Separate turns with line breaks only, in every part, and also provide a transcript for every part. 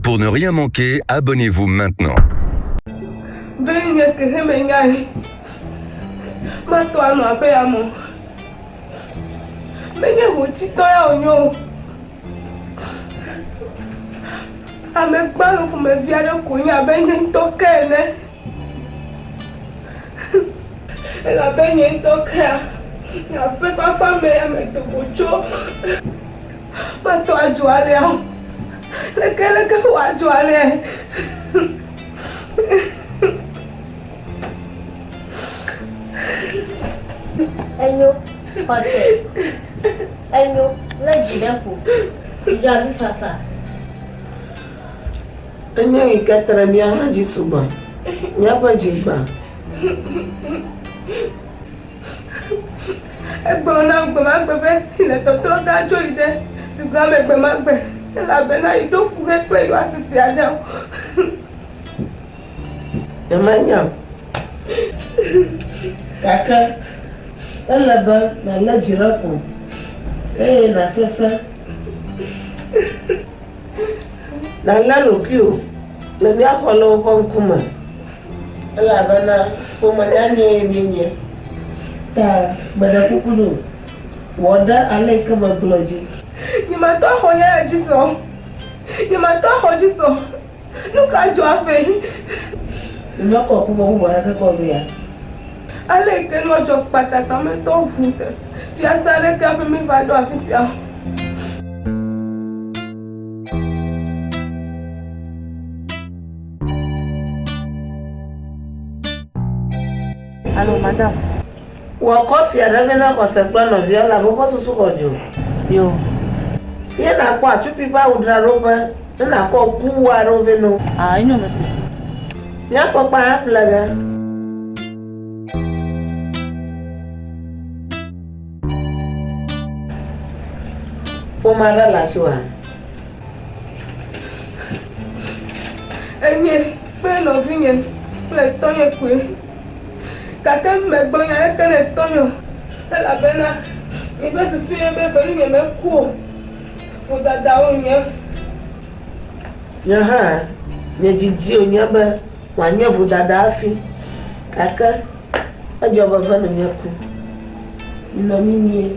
Pour ne rien manquer, abonnez-vous maintenant. Menye hotitɔ ya wònyo o. Amegbalẽ ƒomevi aɖe koe nye abe nye ŋutɔ ke ene. Elabe nye ŋutɔ kea nye akpekpakpa me ya medo go tso. Matɔ adzo alea o. Leke leke woadzo alea? Enyo, xɔse. Enyo, lé dzi ɖe ƒo. Dzudzɔ avi fafa. Enye yi ke te ɖe mía hã dzi sugbɔ. Míaƒe dzi gbã. Egblɔ nam gbe ma gbe be yele tɔtrɔm be adzo yi ɖe dukɔa me gbe ma gbe elabena yeɖo ŋku be kple yewoasi se aɖe o. Nyemenya o. Gake ele be nàlé dzi ɖe ƒo eye nàsesẽ. Nàlé ɖokuiwò le mía xɔlɔ̃wo ƒe ŋkume, elabena ƒome nyanyee míenye. Ta meɖe kuku nɛ wò, wɔ ɖe ale yi ke megblɔ dzi. Nyematɔ axɔ nyanya dzi se o, nyematɔ axɔ dzi se o. Nu ka dzɔ afɛ? Nunɔ kɔ kuvɔ bubɔ na ke kɔ vea. Ale yi ke nua dzɔ kpata ta metɔ ʋu se. Fiasa ɖe ke hafi mi va ɖo afi sia o. Alo madam. Wɔ kɔfi aɖe vɛ na xɔse kple nɔvia elabe woƒe susu xɔ dzo. Yo. Ye nàkpɔ atsupi ƒe awudzraɖoƒe ne nàkɔ kuwu aɖewo vɛ na wo. A Enyo nu si. Nye afɔkpa hã ƒle ge. Ƒome aɖe le asiwòa? Enye kple nɔvinye kple tɔnye koe. gake megblɔ nya aɖeke na tɔnye o, elabena miƒe susu ye be ƒe nunyeme meku o. Vodada wònye. Nye hã, nye didi wònye be wòanye vodada hafi, gake edzɔ be ƒe nunye ku. Minɔ mimie.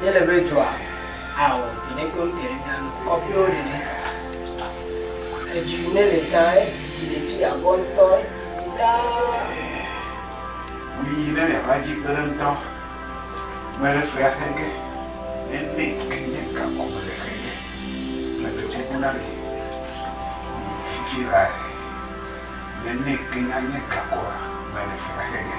Míele be dzoa ao ɖene kple ŋutɔ ɖe mía nu, kɔƒewo ɖene. Edzo yi ne le dza edidi le fi abɔ ŋutɔ, edidi ɖaa. Ŋu yi ne miava dzi kpe ɖe ŋutɔ, me ɖe fea xe ge, nene ke nye gakɔ me le xe ge. Mele kuku na mi, mi fifi lae, nene ke nye anye gakɔ me le fea xe ge.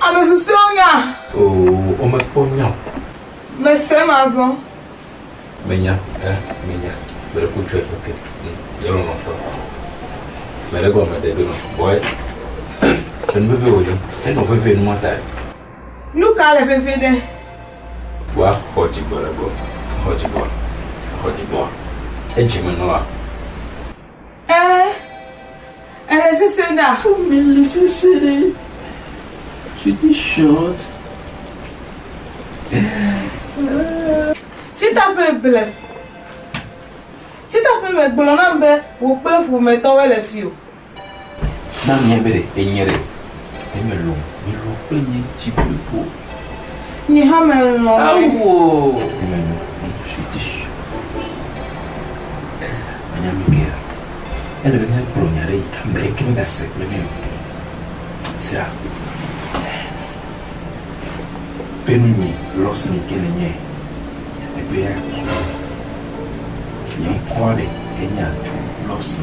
Ame susɔewo nya. Oo, womekpɔ nya o. Mese mazɔ. Menya, eh, menya. Mele ku tsɔe, ok. Mm, yelɔ nɔ tɔ. Mele gɔme ɖe do nɔ. Bɔe, enu veve wò dze. Enɔ veve nu mata. Nu ka le veve ɖe? Wa xɔ dzigbɔ le gbɔ. Xɔ dzigbɔ. Xɔ dzigbɔ. Edzi me nɔa. Ẽ, ele sesẽ ɖa. Eme le sesẽ ɖe. Pretty short. Tsitaƒe ble. Tsitaƒe me gblɔ nam be wò kple ƒometɔwoe le fi o. Na mia be ɖe enye ɖe eme lɔm. Mi lɔ kple nye dzi blibo. Nye hã me lɔ ɖe. Awu o. Eme lɔ mi su ti. Anya mi bia. Ele be mia gblɔ nya ɖe. Ame ɖe ke me ga se kple mi o. Sira. Pe nu mi lɔ se mi ke ne nye. Ebe ya. Nye ŋkɔ ɖe enye atu lɔ se.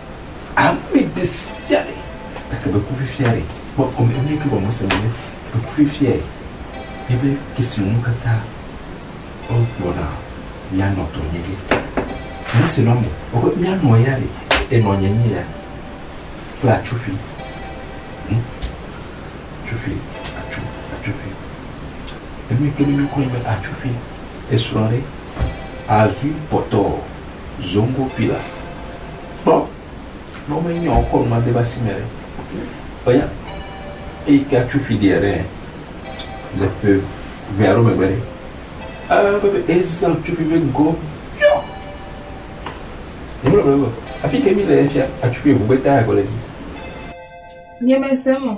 Ame ɖe sia ɖe gake be kufifia ɖe kpɔ kɔme eye ke wɔ Mose be be kufifiae nye be esi nu katã wogblɔ na míanɔ tɔ nye ge. Mose nɔ me gblɔ be míanɔ ya ɖe enɔ nye nye ya kple atsufi. Hm atsufi atsu atsufi enu yi ke mi mi kɔ nye be atsufi esrɔ̃ ɖe azui kpɔtɔ. zoŋgokui la kpɔ ne wome nyɔ wokɔ nua de eƒe asime ɖe eya eyi ke atso ƒi ɖia ɖe le ƒe ʋe alo megbe ɖe ewɔ abe eza tso ƒi be ŋgɔ miɔ nyemele gblɔm be afi ke mí le fia atso ƒi ŋgɔgbe ta agble dzi. Nyemese eme o.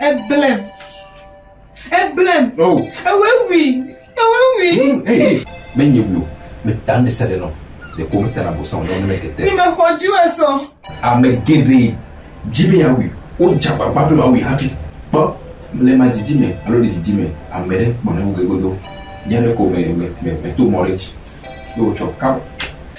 Eblem. Eblem. Oh. Ewɔe wui. Ewɔe wui. Mm, hey, hey. Menye wui o. Meta me se ɖe nɔ. Ɖeko meta na bosã o ne wone mekete. Ni me xɔ dzi wɔ sɔ. Ame geɖe dzi be yeawui. Wodze agbagba be yewoawui hafi. Kpɔ le ma dzidzi me alo le dzidzi me. Ame ɖe kpɔ ne woge godo. Nye ɖe ko me, me, me, me to mɔ ɖe dzi. Ye wotsɔ kap.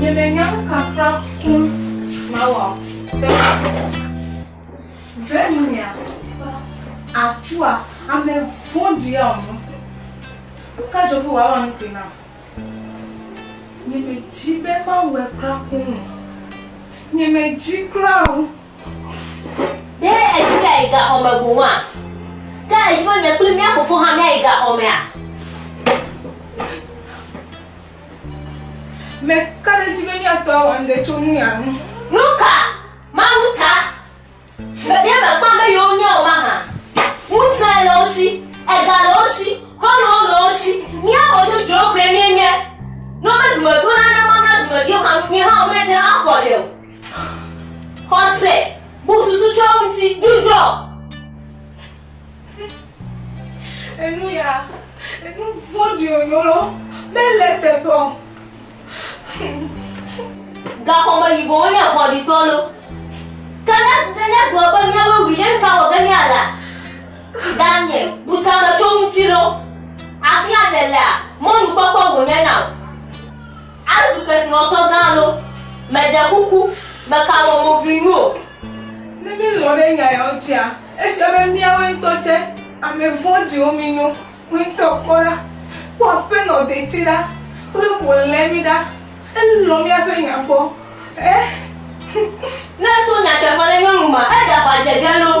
Nyemenya nu ka kura ŋu mawɔ o. Ɖe nuya atua ame vɔ̃ɖia ŋu. Nu ka dzɔ be wòawɔ nu kpui nam? Nyemedi be mawɔe kura ŋu o. Nyemedi kura o. Ɖe èdi be ayi gaxɔ me boŋua? Ɖe èdi be nye kple mía fofo hã míayi gaxɔ mea? Meka ɖe edzi be míatɔ awɔ nuɖe tso nuya ŋu. Nu ka? Mawu ta? Ɖe mèkpɔa be yewo nye o mahã? Ŋusẽ le wo si, ega le wo si, mɔnuwo le wo si. Mía ame dzodzrowo gblɔe míenye. Ne womedome ɖo na ne woana dumeviwo hã nu, míawo hã míate ŋu axɔ ɖe o. Xɔse, bu susu tsɔ ŋuti, dudɔ. Enu ya, enu vɔɖi onyolo, mele teƒe. Gaxɔme yibɔ wonye avɔɖitɔ lo. Kana nenye gblɔ be miawo wi ɖe ka wɔ ge nye ala. Ganye, bu tame tsɔ ŋuti lo. Afia nèlea, mɔnukpɔkpɔ wònye na wò. Azu kesinɔtɔ gã alo? Meɖe kuku, meka wò mo ʋui nu o. Ne mílɔ̃ ɖe nya yawo dzia, efia be míawoe ŋutɔ tsɛ ame vɔ̃ɖiwo mínyo. Wò ŋutɔ kpɔ ɖa! Kpɔ Aƒenɔ deti ɖa kple wòlé mí ɖa. Elɔ̃ míaƒe nya kpɔ. Ẽ! Ne eto nyateƒe ɖe nyɔnu ŋu ma, eɖe aʋa dze ge loo.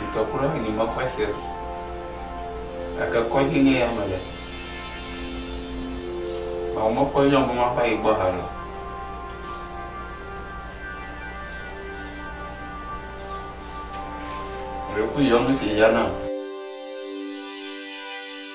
Ŋutɔ kura nyi me kpɔe se o. Gake kɔdzi nye ya mele. Vɔa me kpɔe nyɔ be ma va yi gbɔ hã o. Ɖe ku yɔ nu si ya na.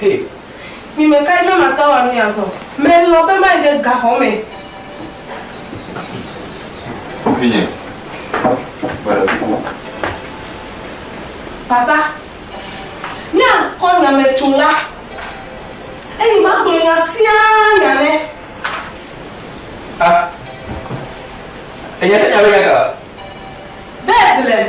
Hey. Mi me kae be mate ŋu anu ye azɔ? Melɔ̃ be mayi ɖe gaxɔ me. Vinye, kpe ɖe ŋu. Papa, míakɔ nya me tso la, eye magblɔ nya sia nya nɛ. Ah, ènya sia nya be nya ka? Be blem.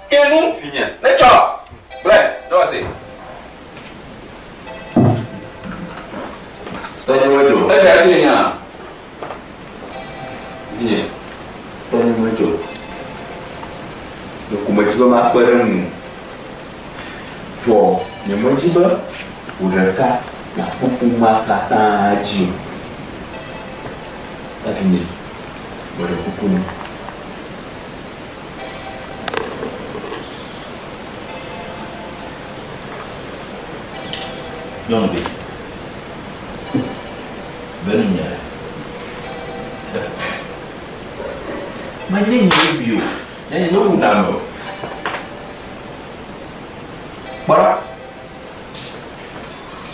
Ke nu, vinye, netsɔ gblẽ ɖo asi. Tɔnye medzo. Eya ɖi nya, vinye. Tɔnye medzo. Ɖeko medzi be makpe ɖe ŋu, vɔ nyemedzi be wò ɖeka nàku ƒomea katã dzi o. Evinye, meɖe kuku nɔ. Nyɔnuvi, be nu nya ɖe. Medi nya ɖe bi o. Ɖe nye ŋu da me o. Kpɔ ɖa.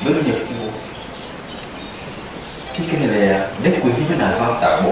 Be nu nya ku o. Kike ne le ya, ne kwe hi be na zã ta gbɔ.